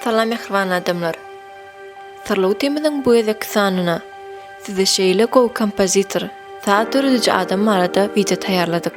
Salam mähriban adamlar. Syrly temanyň bu gezek sanyna size şeýle gowy kompozitor, saz dörediji adam barada wideo taýýarladyk.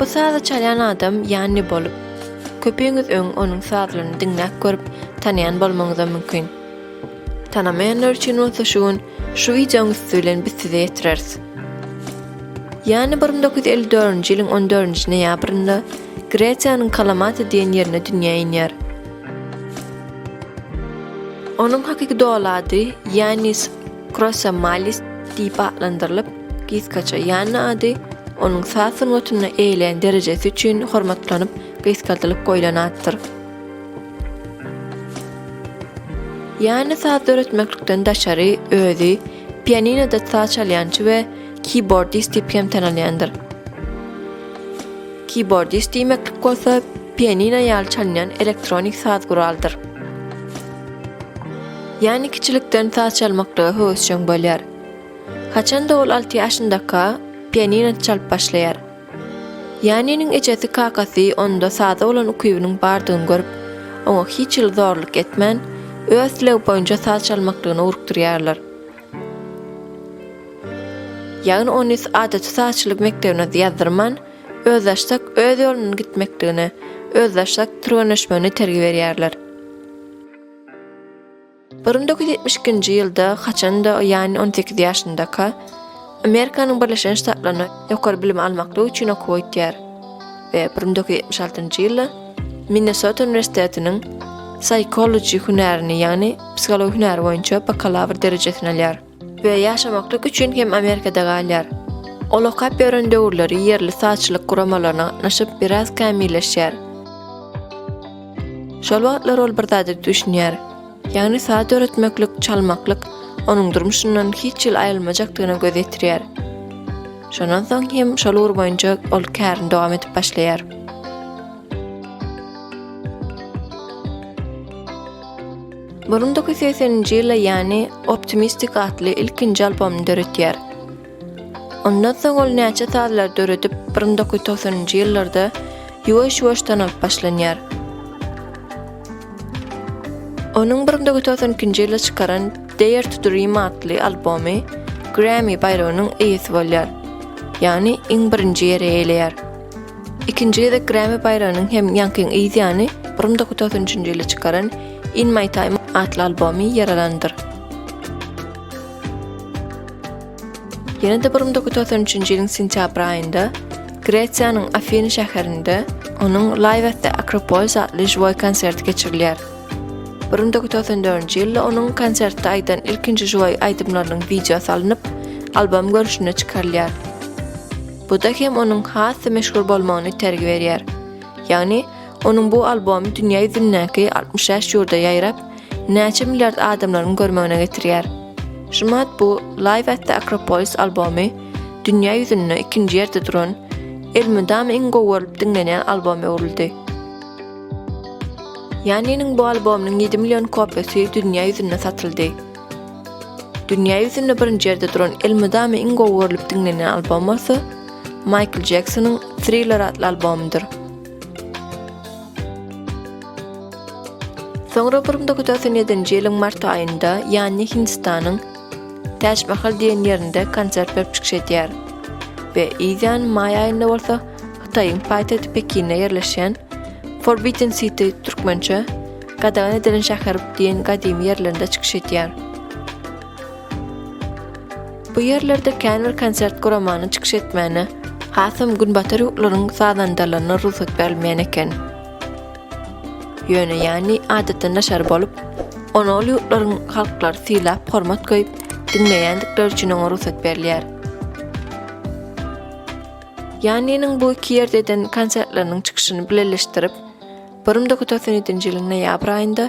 Bu sazy çalýan adam Ýanni bolup, köpüňiz öň onuň sazlaryny diňläp görüp, tanaýan bolmagyňyz-a mümkin. Tanamaýanlar üçin bolsa şu gün şu wideoň üsti bilen biz size ýetireris. Ýanni bir müň dokuz ýüz elli dördünji ýylyň on dördünji noýabrynda Gresiýanyň Kalamata diýen ýerinde dünýä inýär. Onuň hakyky doly ady Ýannis Krossa Malis diýip atlandyrylyp, gysgaça Ýanna ady onuň saz sungatynda eýelän derejesi üçin hormatlanyp, gysgaldylyp goýlan atdyr. Ýanna saz döretmeklikden daşary özi pianinoda saz çalýançy we kibordist diýip hem tanalýandyr. Kibordist diýmeklik bolsa pianino ýaly çalynýan elektronik saz guraldyr. Ýani kiçilikden saz çalmaklyga höwesjeň bolýar. Haçanda ol alty ýaşyndaka, pianino çalyp başlaýar. Ýaniniň ejesi kakasy onda saza bolan ukybynyň bardygyny görüp, oňa hiç hili zorluk etmän, öz islegi boýunça saz çalmaklygyny ugrukdyrýarlar. Ýagny ony adaty sazçylyk mekdebine ýazdyrman, özbaşdak öz ýolundan gitmekligine, özbaşdak türgenleşmegine itergi berýärler. Bir müň dokuz ýüz ýetmiş ikinji ýylda haçanda Ýanni on sekiz ýaşyndaka, Amerikanyň Birleşen Ştatlaryna ýokary bilim almaklyk üçin okuwa gitýär we bir müň dokuz ýüz ýetmiş altynjy ýylda Minnesota uniwersitetiniň Psychology hünärini, ýagny psihologiýa hünäri boýunça bakalawr derejesini alýar. we ýaşamaklyk üçin hem Amerikada galýar. Ol okap ýören döwürleri ýerli sazçylyk guramalaryna gatnaşyp biraz kämilleşýär. Şol wagtlar ol bir zada düşünýär. Ýagny saz döretmeklik, çalmaklyk onuň durmuşyndan hiç ýyl aýrylmajakdygyna göz ýetirýär. Şondan soň hem şol ugur boýunça ol kärini dowam edip başlaýar. Burun dokuz ýüz segsen nji ýylda Ýani Optimistik atly ilkinji albomyny döretýär. Ondan soň ol näçe sazlar döredip, burun dokuz ýüz togsan nji ýyllarda ýuwaş-ýuwaş tanalyp başlanýar. Onuň burun dokuz ýüz togsan ikinji ýylda çykaran Dare to Dream atly albomy Grammy baýragynyň eýesi bolýar, ýagny iň birinji ýeri eýeleýär. Ikinji gezek Grammy baýragynyň hem ýaňkyň yz ýany, bir müň dokuz ýüz togsan üçünji ýylda çykaran In My Time atly albomy ýer alandyr. Ýene-de bir müň dokuz ýüz togsan üçünji ýylyň sentýabr aýynda Gresiýanyň Afiny şäherinde onuň Live at the Acropolis atly žiwoý konserti geçirilýär. Bir müň dokuz ýüz togsan dördünji ýylda onuň konsertde aýdan ilkinji žiwoý aýdymlarynyň wideosy alnyp, albom görnüşinde çykarylýar. Bu-da hem onuň has-da meşhur bolmagyna itergi berýär. Ýagny, onuň bu albomy dünýä ýüzündäki altmyş bäş ýurda ýaýrap, näçe milliard adamlaryň görmegine getirýär. Şumat bu Live at the Acropolis albomy dünýä ýüzünde ikinji ýerde duran, elmydama iň gowy görlüp diňlenýän alboma öwrüldi. Ýannynyň bu albomynyň ýedi million kopiýasy dünýä ýüzünde satyldy. Dünýä ýüzünde birinji ýerde duran elmydama iň gowy görlüp diňlenýän albom bolsa, Maýkl Jeksonyň Thriller atly albomydyr. Soňra bir müň dokuz ýüz togsan ýedinji ýylyň mart aýynda Ýanni Hindistanyň Täç Mahal diýen ýerinde konsert berip çykyş edýär we ýan maý aýynda bolsa Hytaýyň paýtagty Pekinde ýerleşýän Forbidden City türkmençe Gadagan edilen şäher diýen gadymy ýerlerinde çykyş edýär. Bu ýerlerde kän bir konsert guramanyň çykyş etmäne, hasam günbatar ýurtlaryň sazandalaryna rugsat berilmeýän eken. Ýöne ýany adatdan daşary bolup, ony ol ýurtlaryň halklary sylap, hormat goýup, diňleýändikleri üçin oňa rugsat berilýär. Ýanynyň bu iki ýerde eden konsertleriniň çykyşyny bileleşdirip, Bir müň dokýüz ýüz togsan ýedinji ýylyň noýabr aýynda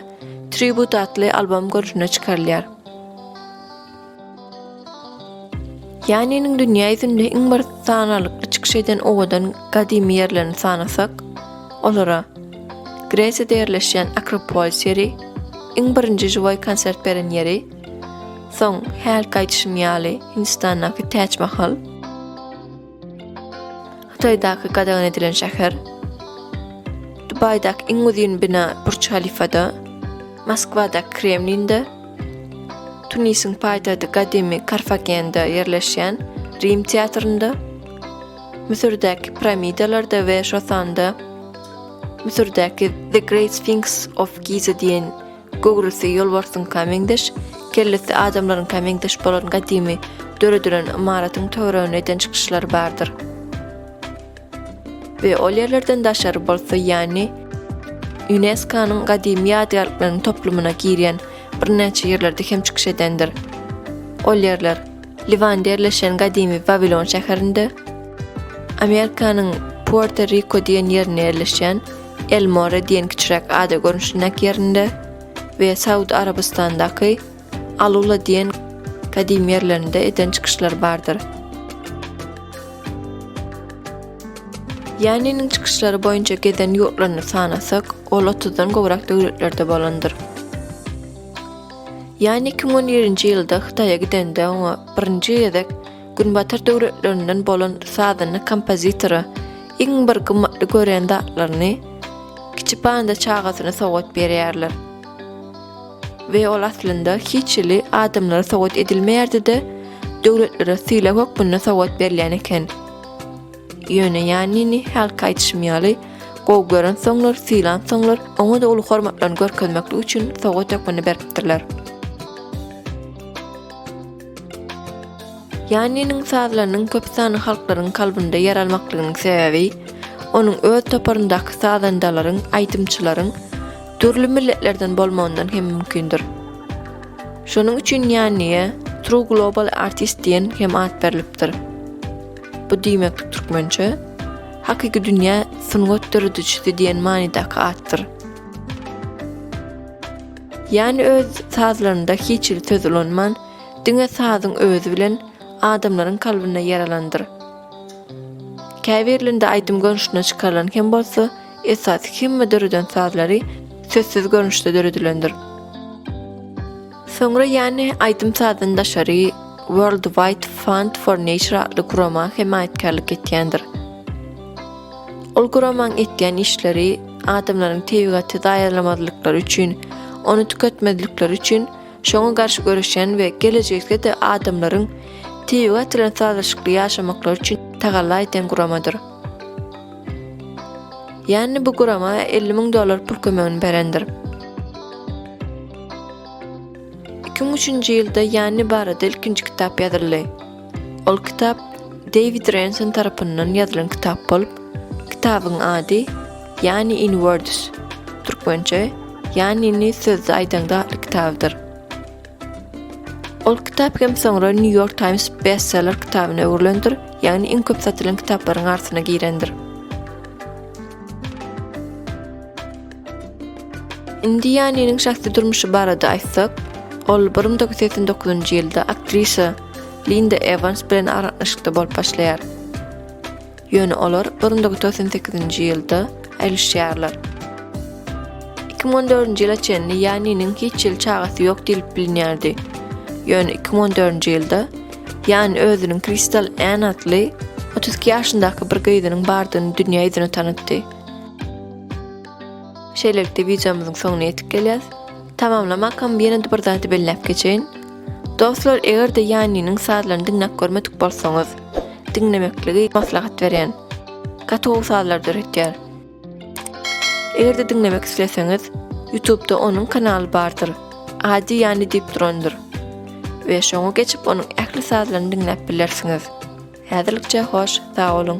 Tribute atly albom görnüşinde çykarylýar. Ýaniniň dünýä ýüzünde iň bir sanalykly çykyş eden owadan gadymy ýerlerini sanasak, olara Gresiýada ýerleşýän Akropolis ýeri, iň birinji žiwoý konsert beren ýeri, soň hälki aýdyşym ýaly Hindistandaky Täçmahal, Hytaýdaky gadagan edilen şäher. Dubaýdaky iň uzyn bina Burç Halifada. Moskwadaky Kremlinde. Tunisiň paýtagty gadymy Karfagende ýerleşýän Rim teatrynda, Müsürdäki piramidalarda we şosanda Müsürdäki The Great Sphinx of Giza diýen Göwresi ýolbarsyňka meňzeş, kellesi adamlaryňka meňzeş bolan gadymy döredilen ymaratyň töweregine eden çykyşlary bardyr. We ol ýerlerden daşary bolsa ýany UNESCO-nyň gadymy ýadygärlikleriň toplumyna girýän birnäçe ýerlerde hem çykyş edendir. Ol ýerler, Liwanda ýerleşen gadymy Wawilon şäherinde, Amerikanyň Puerto-Riko diýen ýerinde ýerleşýän Elmore diýen kiçiräk ada görnüşindäki ýerinde we Saud Arabystanyndaky Alula diýen gadymy ýerlerinde eden çykyşlary bardyr. Ýaniniň çykyşlary boýunça gezen ýurtlaryny sanasak, ol otuzdan gowrak döwletlerde bolandyr. Ýani iki müň on ýerinji ýylda Hytaýa gidende oňa birinji gezek Günbatar döwletlerinden bolan sazanda kompozitora iň bir gymmatly görýän zatlaryny kiçi panda çagasyna sowgat berýärler. We ol aslynda hiç hili adamlara sowgat edilmeýärdi-de, döwletlere sylag hökmünde sowgat berilýän eken. Ýöne Ýannini hälki aýdyşym ýaly, gowy gören soňlar, sylan soňlar, oňa-da uly hormatlaryny görkezmeklik üçin sowgat hökmünde beripdirler. Ýanniniň sazlarynyň köp sanly halklaryň kalbynda ýer almaklygynyň sebäbi, onuň öz toparyndaky sazandalaryň, aýdymçylaryň dürli milletlerden bolmagyndan hem mümkindir. Şonuň üçin Ýanniýe True Global Artist diýen hem at berlipdir. Bu diýmeklik türkmençe Hakyky dünýä sungat döredijisi diýen manydaky atdyr. Ýani öz sazlarynda hiç-hili söz ulanman, diňe sazyň özi bilen adamlaryň kalbyna ýer alandyr. Käbirlinde aýdym görnüşinde çykarylan hem bolsa, esasy hemme döreden sazlary sözsüz görnüşde döredilendir. Soňra Ýani aýdym sazyny daşary World Wide Fund for Nature atly gurama hemaýatkärlik etýändir. Ol guramaň etýän işleri adamlaryň tebigaty zaýalamazlyklary üçin, ony tüketmezlikleri üçin şoňa garşy göreşýän we gelejekde-de adamlaryň tebigat bilen sazlaşykly ýaşamaklary üçin tagalla edýän guramadyr. Ýanni bu gurama elli müň dollar pul kömegini berendir. Iki müň üçünji ýylda Ýanni barada ilkinji kitap ýazyldy. Ol kitap Dewid Renson tarapyndan ýazylan kitap bolup, kitabyň ady Yani in words, türkmençe, Yanini sözde aýdaňda atly kitabydyr. Ol kitap hem soňra New York Times bestseller kitabyna öwrülendir, ýagny iň köp satylan kitaplaryň arsyna girendir. Indi Yaniniň şahsy durmuşy barada aýtsak, ol 1989-njy ýylda aktrisa Linda Evans bilen aragatnaşykda bolup başlaýar. Ýöne olar bir müň dokuz ýüz togsan sekizinji ýylda aýrylyşýarlar. Iki müň on dördünji ýyla çenli Ýaniniň hiç ýyl çagasy ýok diýlip bilinýärdi. Ýöne iki müň on dördünji ýylda Ýani özüniň Kristal Ann atly otuz iki ýaşyndaky bir gyzynyň bardygyny dünýä ýüzüne tanatdy. Şeýlelikde wideomyzyň soňuna ýetip gelýäs. Tamamlamakam ýene-de bir zady belläp geçeýin. Dostlar egerde Ýaniniň sazlaryny diňläp görmedik bolsaňyz diňlemekligi maslahat berýän. Gatow sazlar döretýär. Egerde diňlemek isleseňiz Ýutubda onuň kanaly bardyr. Ady Ýani diýip durandyr. We şoňa geçip onuň ähli sazlaryny diňläp bilersiňiz. Häzirlikçe hoş, sag boluň.